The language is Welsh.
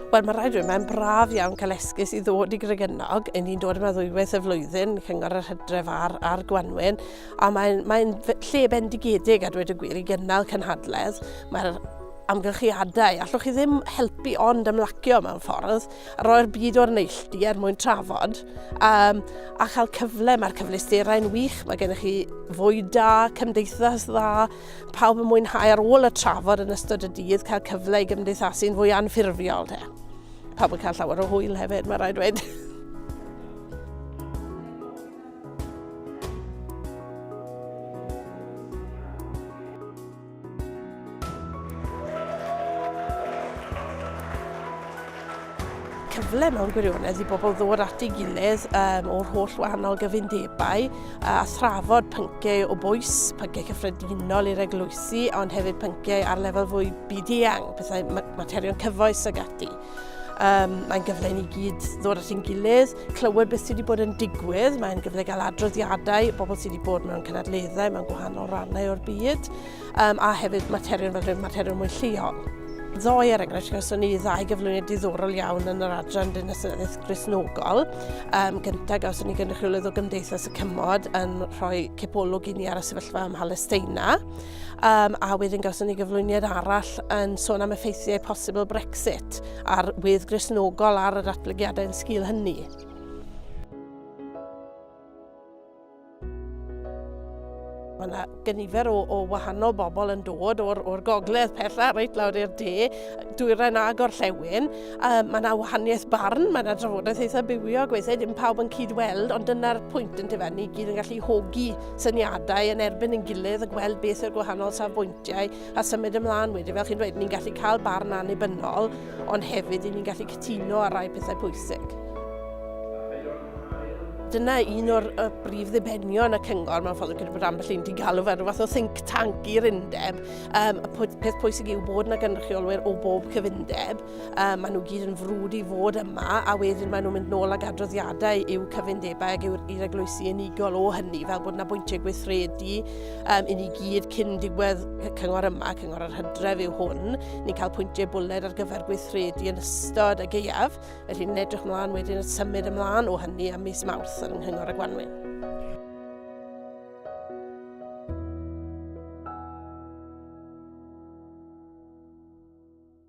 Wel, mae rhaid dweud, mae'n braf iawn cael esgus i ddod i Grygynnog. Yn ni'n dod yma ddwywaith y flwyddyn, cyngor yr hydref a'r, a'r gwanwyn. A mae'n mae lle bendigedig a dweud y gwir i gynnal cynhadledd. Mae'r amgylchiadau, allwch chi ddim helpu ond ymlacio mewn ffordd, a roi'r byd o'r neilltu er mwyn trafod, um, a chael cyfle, mae'r cyfleusterau'n wych, mae gennych chi fwy da, cymdeithas dda, pawb yn mwynhau ar ôl y trafod yn ystod y dydd, cael cyfle i gymdeithasu'n fwy anffurfiol. Te. Pawb yn cael llawer o hwyl hefyd, mae rhaid dweud. cyfle mewn gwirionedd i bobl ddod at ei gilydd um, o'r holl wahanol gyfundebau a thrafod pynciau o bwys, pynciau cyffredinol i'r eglwysi, ond hefyd pynciau ar lefel fwy byd-eang, pethau materion cyfoes ag ati. Um, mae'n gyfle ni gyd ddod at ein gilydd, clywed beth sydd wedi bod yn digwydd, mae'n gyfle gael adroddiadau, bobl sydd wedi bod mewn cynadleddau, mewn gwahanol rannau o'r byd, um, a hefyd materion fel rhywun materion mwy lleol. Ddoe, er enghraifft, gawson ni ddau gyflwyniad diddorol iawn yn yr adran dinasoedd grisnogol. Um, gyntaf, gawson ni gynrychiolydd o Gymdeithas y Cymod yn rhoi cipolwg i ni ar y sefyllfa ym Mhalesteina. Um, a wedyn gawson ni gyflwyniad arall yn sôn am effeithiau posibl Brexit a'r wydd grisnogol ar yr atblygiadau yn sgil hynny. Mae yna gynifer o, o wahanol bobl yn dod o'r, or gogledd pella reit lawr i'r de, dwyrain a gorllewin. Um, mae yna wahaniaeth barn, mae yna drafodaeth eitha bywiog, weithiau dim pawb yn cyd-weld, ond dyna'r pwynt yn dyfa, ni gyd yn gallu hogi syniadau yn erbyn yn gilydd a gweld beth yw'r gwahanol safbwyntiau a symud ymlaen wedyn. Fel chi'n dweud, ni'n gallu cael barn annibynnol, ond hefyd ni'n gallu cytuno ar rai pethau pwysig. Dyna un o'r y brif ddibenion y cyngor mewn ffordd gyda bod ambell i'n digalw fel rhywbeth o think tank i'r undeb. Um, y peth pwysig yw bod yna gynrychiolwyr o bob cyfundeb Um, maen nhw gyd yn frwd i fod yma a wedyn maen nhw'n mynd nôl ag adroddiadau i'w cyfundebau ac i'r eglwysi unigol o hynny fel bod yna bwyntiau gweithredu um, i ni gyd cyn diwedd y cyngor yma, cyngor yr hydref yw hwn. Ni'n cael pwyntiau bwled ar gyfer gweithredu yn ystod y geiaf, felly ni'n edrych ymlaen wedyn y symud ymlaen o hynny am mis mawrth yn nghyngor y Gwanwyn.